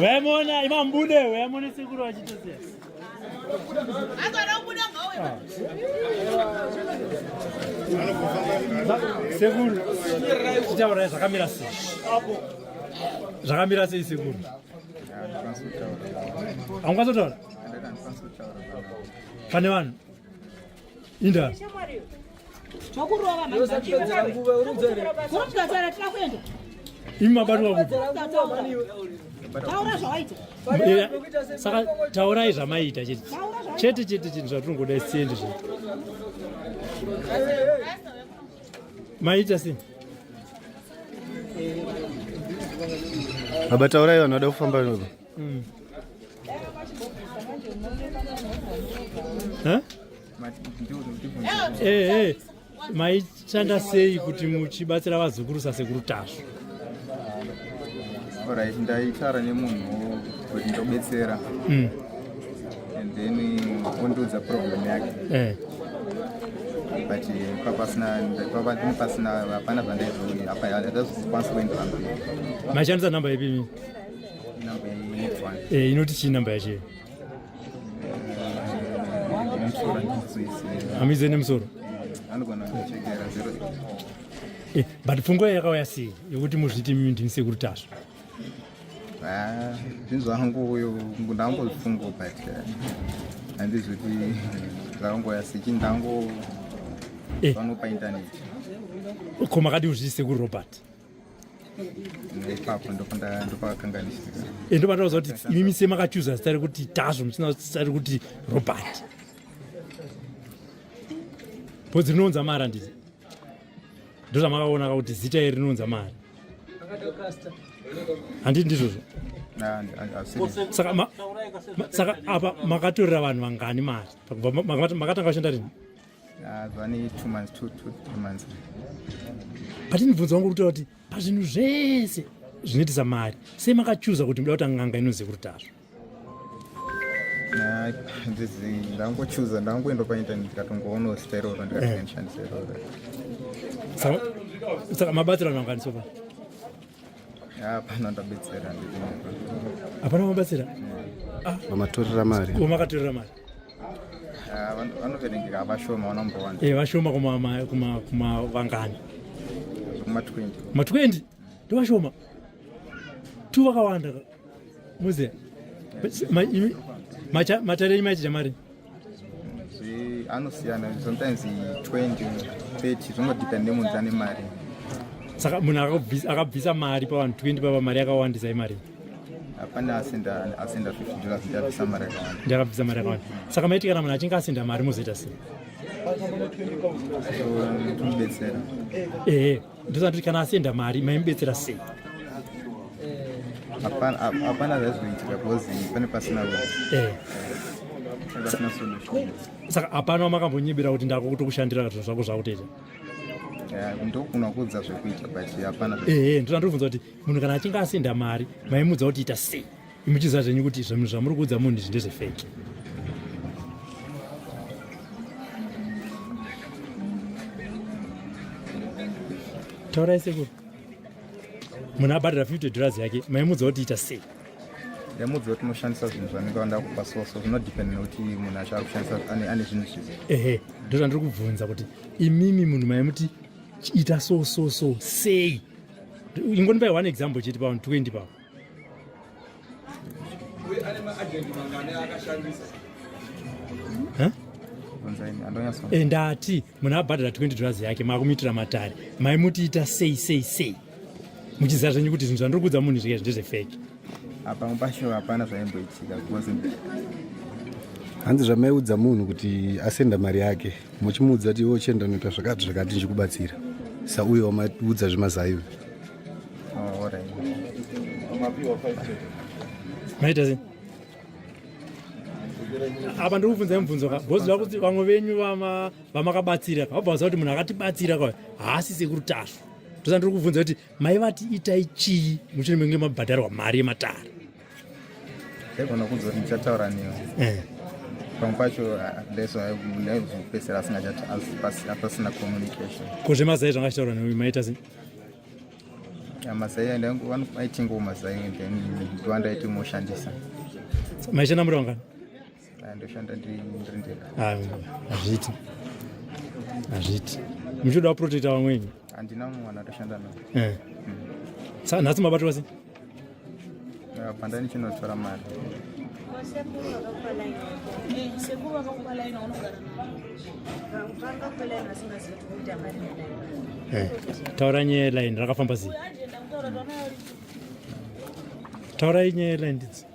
Wemona imambude wemona sikuru achitosia. Sekuru tichauraya zvakamira sei? Zvakamira sei sekuru? Haungazotora? Pane vanhu Inda. Chokurova manje. Kurumgadzara tira kuenda. Imi mabatwa kuti. Taura zvawaita. Eh, saka taurai zvamaita chete. Chete chete chinhu zvatinongoda siendi zve. Maita sei? Baba taurai vanhu vada kufamba navo. Mm. Huh? Hey, eh, eh, hey. maishanda sei kuti muchibatsira vazukuru sasekuru tasvu orit ndaitara nemunhu kuti ndobetsera hmm. and then ondiudza problem yake eh. but papasina hapana zvandaizoi apa hatazikwanisa kuenderamba maishandisa nhamba ipi Eh, inoti chii namba yacho hamize nemusoro eh, but pfungwa yakauya sei yekuti muzviti imimi ndini sekuru tasvo ah, zvinhu zvangu uyo ndangozvifungo but eh, handizi kuti zvakangoya sei chinhu ndango vanopa intaneti ko makadii kuzviti sekuru robert ipapo ndopakanganisika eh, ndopandakuza kuti imi mise makachuza zita rekuti tazvo musina zita rekuti robert bhodzi rinounza mari handiti ndozvamakaona ka kuti zita iri rinounza mari handiti ndizvozvo saka apa makatorera vanhu vangani mari makatanga kushanda rini Ah, zvane two months two two three months but ndibvunza wangu kutaura kuti pazvinhu zvese zvinoitisa mari sei makachuza kuti muda kuta n'anga inoziva kuti tazvo ndangochuza ndangoenda paintaneti ndikatongoonawo zita iroro ndikatoishandisa eh. iroro saka mabatsira anoanganiso pa hapana ndabetsera hapana mabatsira mamatorera ah. mari makatorera mari Ah, vanoverengeka vashoma vanombowana eh, vashoma kumavangani ma 20 ndovashoma tu vakawanda muze matare enyu maichija mari anosiyana sometimes 20 30 zvingodepende munhu ane mari saka munhu akabvisa mari pavanhu 20 papa mari yakawandisa imari hapana asenda asenda 50 dollars ndabvisa mari yakawanda ndakabvisa mari yakawanda saka maiti kana munhu achinge asenda mari mozoita sei tomubetsera ehe ndosanditi kana asenda mari maimubetsera sei hapana zvaizvoitika because pane pasina eh. saka hapana wamakambonyibira kuti ndakutokushandira zvako zvakutoita ndokuna kuudza zvekuita but hapana ehe ndosandiri kubvunza kuti munhu kana achinge asenda mari maimudza kuti ita sei imuchiziva zvenyu kuti zvinhu zvamuri kuudza munhu izvi ndezvefeki taurai sekuru munhu abhadhara 50 dollars yake maimudza kuti ita sei ndamudzi kuti unoshandisa zvinhu zvanenge vanda kupa soso zvinodepend nekuti munhu acho ari kushandisa ane zvinhu zvizi ehe ndozvandiri kubvunza kuti imimi munhu maimuti ita so so so sei ingonipai one example chete pavanhu 20 pavo eh, ndati munhu abhadhara 20 dollars yake maakumiitira matare maimutiita sei sei sei muchiziva zvenyu kuti zvinhu zvandiri kuudza munhu izvi ndezvefeki apa mupasho hapana zvaimboitika because hanzi zvamaiudza munhu kuti asenda mari yake muchimuudza kuti iwe uchienda unoita zvakati zvakati ndichikubatsira sa uyo wamaiudza zvemazaiwe oh, maita sei apa ndiri kubvunza imubvunzo ka bhozi va kuti vamwe venyu vamakabatsira ka vabva vaziva kuti munhu akatibatsira ka haasise kurutasvu tosa ndiri kubvunza kuti mai vati itai chii muchiri menge mabhadharwa mari yematare egona kuzo kuti ndichataura newe eh. pamwe pacho ah, ndaizozopeisira asingapasina communication ko zvemazai zvanga achitaura newe maita sei mazai aitingowo mazai then ndiwandaiti moshandisa maishanda muri wangani ndoshanda ndiri ndega ah, hazviiti hazviiti muchida waprotecta vamweni handina mumwe mwana atoshanda navo eh. sa nhasi mabatwa sei panda ndichinotora mari eh, taura nyaya yelaini rakafamba sei taura nyaya yelaini ndidzi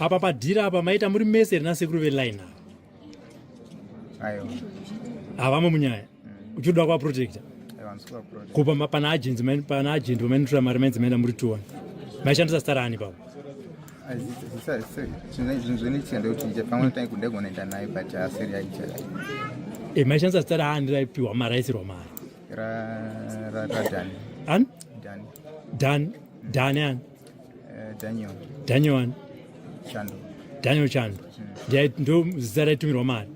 apa padhira apa maita muri mese rina sekuru veline havamo munyaya mm. uchiuda kuvaprotecta kupa pana agent pana agent vamainotora mari mainzi maenda muri tuwa maishandisa stara ani pavo eh, maishandisa stara ani raipiwa mari aisirwa mari ra ra ra dan an dan dan dan an eh, daniel daniel an chando daniel chando ndiye ndo zita raitumirwa mari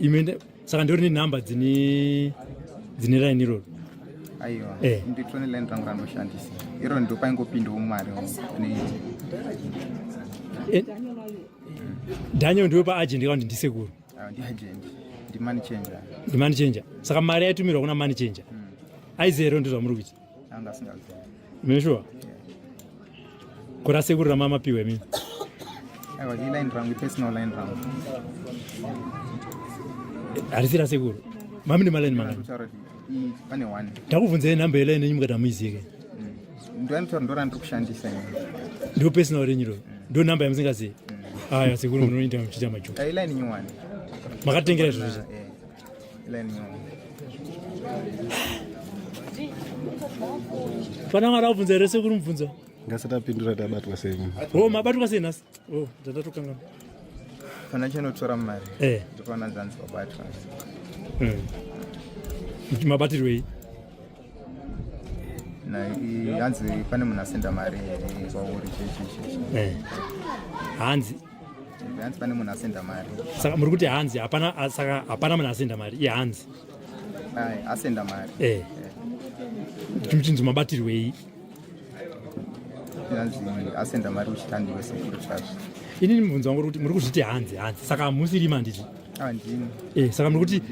ime saka ndori ne number dzine dzine raini iroro aiwa eh. nditone line rangu ranoshandisa iro ndo paingopindawo mari ne eh. daniel ndiwe paagent kakuti ndisekuru Ah, ndimani changer ndimani changer saka mari yaitumirwa kuna mani changer mm. aizero ndizvo zvamuri kuita anga asingaziva meshuwa kurase kuri ramama piwe mimi aiwa iline rangu ipersonal line rangu harisi rasekuru mami nemalaini mangani pane one ndakubvunzai nhamba yelaini yenyu mukati hamuizive kai ndinotaura ndora ndiri kushandisa ndo personal renyu ro ndo number yamusingazivi aya sekuru munoita muchiita majuka eh, iline nyowani makatengera zviro zve eh, iline nyowani pana mara ubvunza here sekuru mubvunzo ngasatapindura tabatwa sei ho mabatwa sei nhasi Oh, dzatatokanganwa. Kana chinotora mari. Eh. Ndipana dzanzi babatwa. Mm. Mabatirwei? Na hanzi pane munhu asenda mari here kwauri chechichi. Eh. Hanzi hanzi pane munhu asenda mari. Saka muri kuti hanzi hapana saka hapana munhu asenda mari. Iye hanzi. Ai, asenda mari. Eh. eh. Chimchinzi mabatirwei? asenda mari kuchitandi wese kuri church ini mubvunzo wangu kuti muri kuzviti hanzi hanzi saka hamusiri manditi andini eh saka muri kuti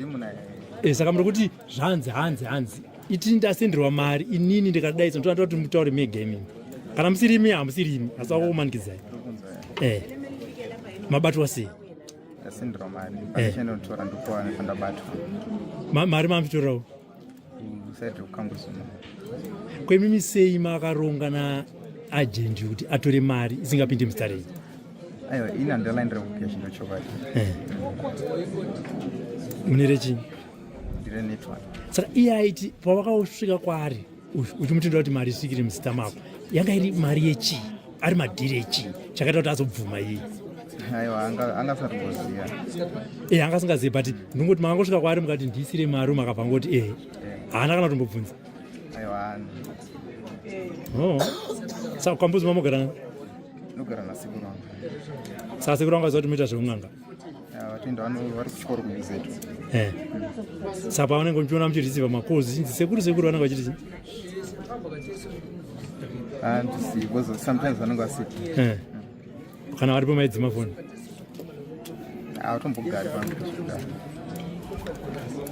eh saka muri kuti zvanzi hanzi hanzi itini ndasenderwa mari inini ndikadaisa ndinotoda kuti mutaure me gaming kana musirimi hamusirimi asi wakukumanikidzai eh mabatwa sei ndasenderwa mari eh. mari mamvitorawo kwemimi sei makaronga na agent kuti atore mari isingapinde mustarei aiwa ini handalaindira kupia chino chokwadi eh. mune rechii ndire network saka iye aiti pavakasvika kwaari uchimutendera kuti mari isikiri muzita mako yanga iri mari yechii ari madhiri echii chakaita kuti azobvuma iyi aiwa anga asatoziva e eh, anga asingazivi but ndongoti makangosvika kwaari mukati ndiisire mari makabva ngoti ehe eh. haana kana kutombobvunza aiwa oh. saka kwambuzi mamogarana nogara nasekuru wangu saka sekuru wangu aziva kuti moita zveun'anga vatenda vano vari kuchikoro kumizetu eh. saka pavanenge uchiona muchirisiva makozi chinzi sekuru sekuru vanenge vachiti chii handisi ah, because sometimes vanenge vasipo eh. kana varipo maidzima foni hautombogari ah, pangu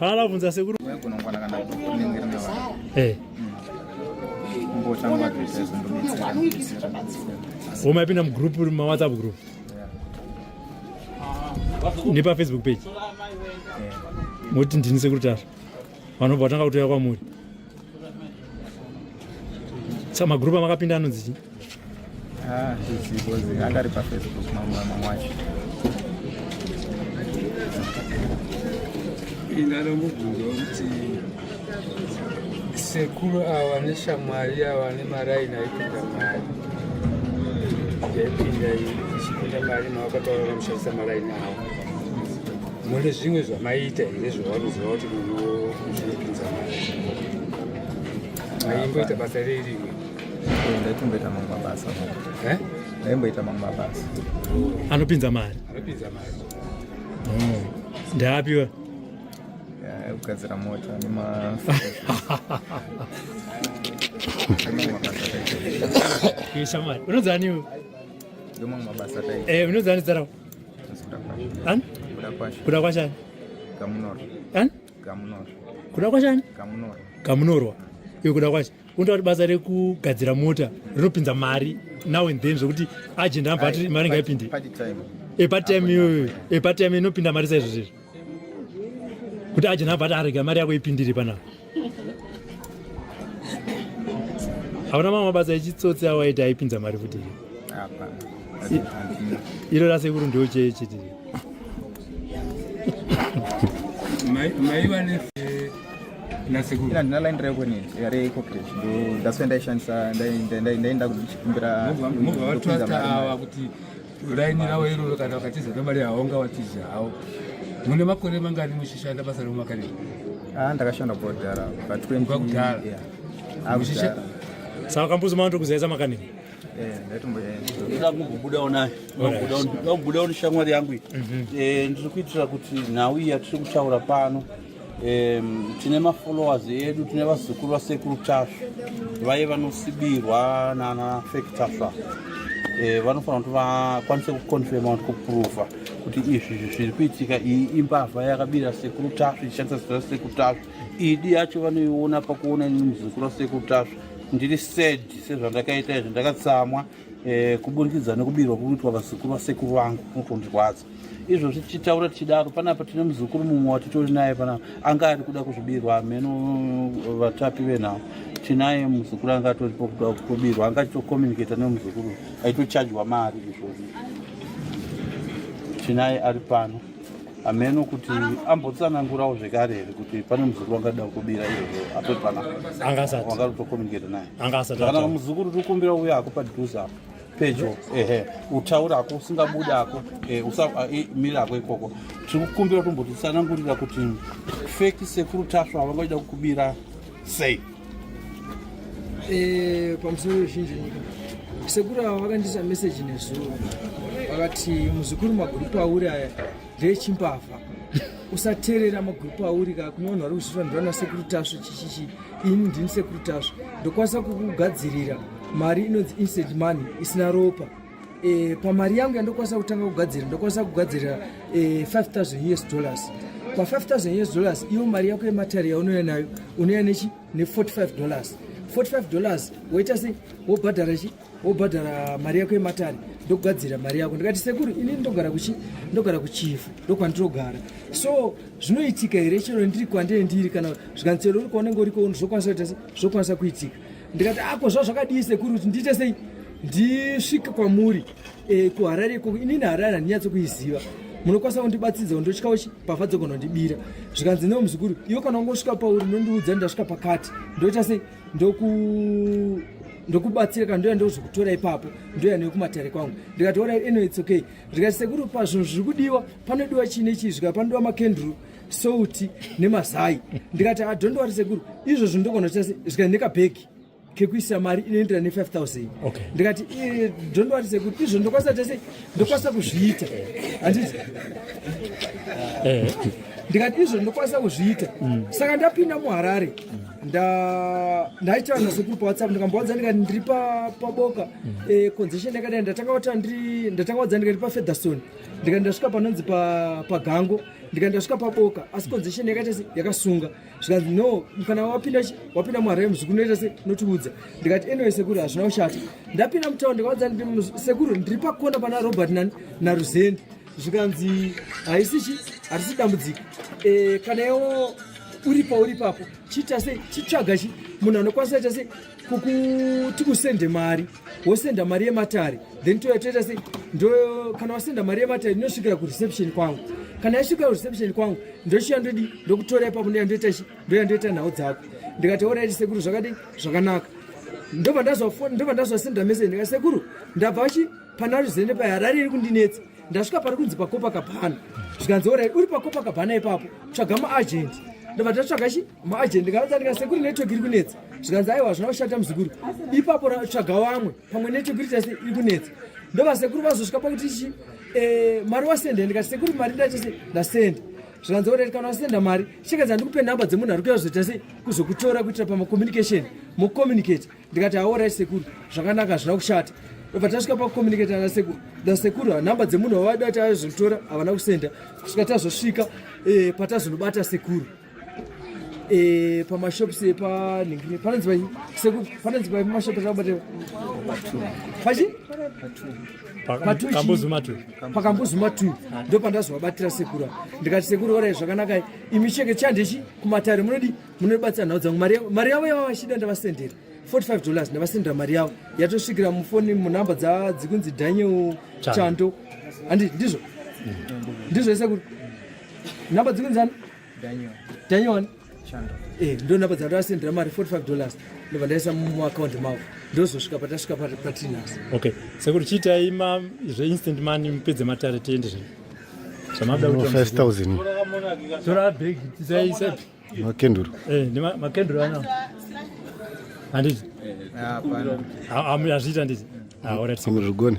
kana lavunza sekuru gonongwana kana kunenge rina vanhu eh. hmm. mbotanga zvese zvindometsera homa yapinda mugroup mawhatsapp group nepa facebook page moti ndini sekurutara vanobva vatanga kutoya kwamuri sa magrupu amakapinda anonzi chii ah, angari pafacebook mamwe mamwe wacho indanomubvunza kuti Sekuru awa neshamwari awa nemaraini aipinda mari yaipinda ichipinda mari mawakataura vamushandisa maraini awa mune zvimwe zvamaiita here zvavanoziva kuti munhu zvinopinza mari maimboita basa rei rimwe ndaitomboita mamwe mabasa eh? ndaimboita mamwe mabasa anopinza mari anopinza mari oh. ndaapiwa kugadzira mota nema shamari unodzani iwe ndomamwe mabasa tai eh unodzani zara an kuda kwasha kuda kwasha gamunoro an gamunoro kuda kwasha gamunoro gamunoro iwe kuda kwasha unoita kuti basa rekugadzira mota rinopinza mari now and then zvekuti agenda ambati mari ngaipinde epatime iyoyo epatime inopinda mari saizvozvezvo kuti aje nabva atarega mari yako ipindire panapa hauna mamwe mabasa echitsotsi awaita aipinza mari futi iro rasekuru ndiwo chee chiti ndina line rekonit yare coptage ndasve ndaishandisa ndaenda kumbira Raini ravo iroro kana vakatiza nemari haunga watizi hawo. Mune makore mangani muchishanda basa remumakare? Ah, ndakashanda kwa kudhara pa 20 kwa kudhara. Yeah. Ah, Muchisha Saka kambuzi mwanto kuzeza makani. Eh, ndaitomboenda. Ndakubuda ona. Ndakubuda ona shamwari yangu. Mhm. Eh, ndiri kuitira kuti nhau iyi yatiri kutaura pano. um, tine mafollowers edu tine vazukuru vasekuru tasvu vaye vanosibirwa nana fake tasva e, vanofanira kuti vakwanise kuconfirma kuti kuprova kuti izvi zviri kuitika iyi imbavha yakabira sekuru tasvu ichishandisa zita rasekuru tasvu idi yacho vanoiona pakuona ini muzukuru wasekuru tasvu ndiri sad sezvandakaita izvi ndakatsamwa e, kuburikidza nekubirwa kuitwa vazukuru vasekuru vangu kundirwadza izvozvi tichitaura tichidaro panapa tine muzukuru mumwe watitori naye panapa anga ari kuda kuzvibirwa hameno eh, vatapi venhau tinaye muzukuru anga atoripo kuda kubirwa anga achitokomuniketa nemuzukuru aitochajwa mari izvozvi tinaye ari pano hameno kuti ambotsanangurawo zvekare here kuti pane muzukuru angada kubira izvozvo atoti pana angasatianga kutokomuniketa naye angasatiakana muzukuru uri kumbira uya ako padhuze apo pedyo ehe utaura ako usingabuda ako eh, eh, miri ako ikoko tiri kukumbira tombotitsanangurira kuti feki sekuru tasva vangaida kukubira sei Eh, pamusoro wezhinji nyika sekuru ava vakandiisa meseji nezuro vakati muzukuru magurupu auri aya ndeechimbavha usateerera magurupu auri ka kune vanhu vari kuzviitwa ndivana sekuru tasvu chichichi ini ndini sekuru tasvu ndokwanisa kukugadzirira mari inonzi instant money isina ropa e, pamari yangu yandokwanisa kutanga kugadzira ndokwanisa kugadzira e, eh, 5000 us dollars pa5000 us dollars iyo mari yako yematari yaunouya nayo unouya nechi ne45 dollars 45 dollars woita sei wobhadhara chi wobhadhara mari yako yematari ndokugadzira mari yako ndikati sekuru ini ndogara kuchi ndogara kuchifu ndokwandirogara so zvinoitika here chero ndiri kwandee ndiri kana zvikanzi chero uri kwaunenge uriko zvokwanisa kuita sei zvokwanisa kuitika ndikati ako ah, zva zvakadii sekuru kuti ndiite sei ndisvike kwamuri eh, kuharare ikoko inini harare handinyatso kuiziva munokwanisa kundibatsidza kundotya uchi pavha dzogonondibira zvikanzi newo muzukuru iwo kana ungosvika pauri nondiudza ndasvika pakati ndoita sei ndoku ndokubatsira kana ndoya ndozvikutora ipapo ndoya nekumatare kwangu ndikati orai eno its okay ndikati sekuru pazvinhu zviri kudiwa panodiwa chii nechii zvika panodiwa makendru souti nemazai ndikati ah, don't worry sekuru izvozvo ndogona kuita zvikaenda nekabhegi kekuisa mari inoendera ne 5000 okay. ndikati eh, don't worry sekuru izvo ndokwanisa kuita sei ndokwanisa kuzviita handiti eh. ndikati izvo ndokwanisa kuzviita mm. saka ndapinda muharare ndaitaura nasekuru pawhatsapp ndikambowadza ndikati ndiri paboka mm. eh, conzession yakadai ndatanga wadza ndikati pafederson ndikati ndasvika panonzi pagango pa ndikaenda svika paboka asi conzestion yakaita se yakasunga zvikanzi no kana wapinda wapinda muharems kunoita se unotiudza ndikati anyway sekuru hazvina kushata ndapinda mutown ndikaudza sekuru ndiri pakona pana robert naruzeni zvikanzi haisi chi harisi dambudziko e, kana iwo uri pauri papo chiita sei chitsvaga chi munhu anokwanisa ita sei kukuti usende mari wosenda mari yematare then toya toita sei ndo kana wasenda mari yematare ndinosvikira kureception kwangu kana yasvikira kureception kwangu ndochiya ndodi ndokutora ipapo ndoya ndoita chi ndoya ndoita nhau dzako ndikati oraiti sekuru zvakadii zvakanaka ndobva ndazwafoni ndobva ndazwasenda message ndikati sekuru ndabva vachi pana ruzende paharare iri kundinetsa ndasvika pari kunzi pakopa kabhana zvikanzi oraiti uri pakopa kabhana ipapo tsvaga maagent ndobva ndatsvaga chi maagent ndikaudza ndikati sekuru network iri kunetsa zvikanzi aiwa hazvina kushata muzukuru ipapo tsvaga vamwe pamwe nechekuti chase iri kunetsa ndova sekuru vazosvika pakuti chi eh, mari wasenda ndikati sekuru mari ndachase ndasenda zvikanzi oreti kana wasenda mari chikanzi handikupe nhamba dzemunhu ari kuya zvoita sei kuzokutora kuitira pamacommunication mucommunicate ndikati aorai sekuru zvakanaka hazvina kushata obva tasvika pakucommunicata nasekuru nasekuru hanhamba dzemunhu wavaida kuti aizvitora havana kusenda kusvika tazosvika eh, patazonobata sekuru eh pa mashop se pa ningine pa nzwa se ku pa nzwa pa mashop ka bate pa chi pa tu kambo zuma tu pa kambo zuma tu ndo pa ndazwa batira sekura ndikati sekura ore zvakanaka imi cheke chande chi kumatare munodi munobatsa nhau dzangu mari mari yavo yava shida ndavasendera 45 dollars ndavasendera mari yavo yatosvikira mufoni munhamba dza dzikunzi Daniel Chando andi ndizvo ndizvo sekura Number dzimwe dzani? Daniel. Daniel wani? Chando. Eh, ndo number dzangu asendera mari 45 dollars. Ndobva ndaisa mu account mavo. Ndozosvika patasvika pa patinas. Okay. Sekuru chiitai ma zve instant money mupedze matare tiende zve. Zvamabda kuti 5000. Tora bag tisaisa. Makenduru. Eh, ndi makenduru ana. Handiti? Eh, hapana. Hazviita nditi. Ah, alright. Sekuru. Amuzvigone.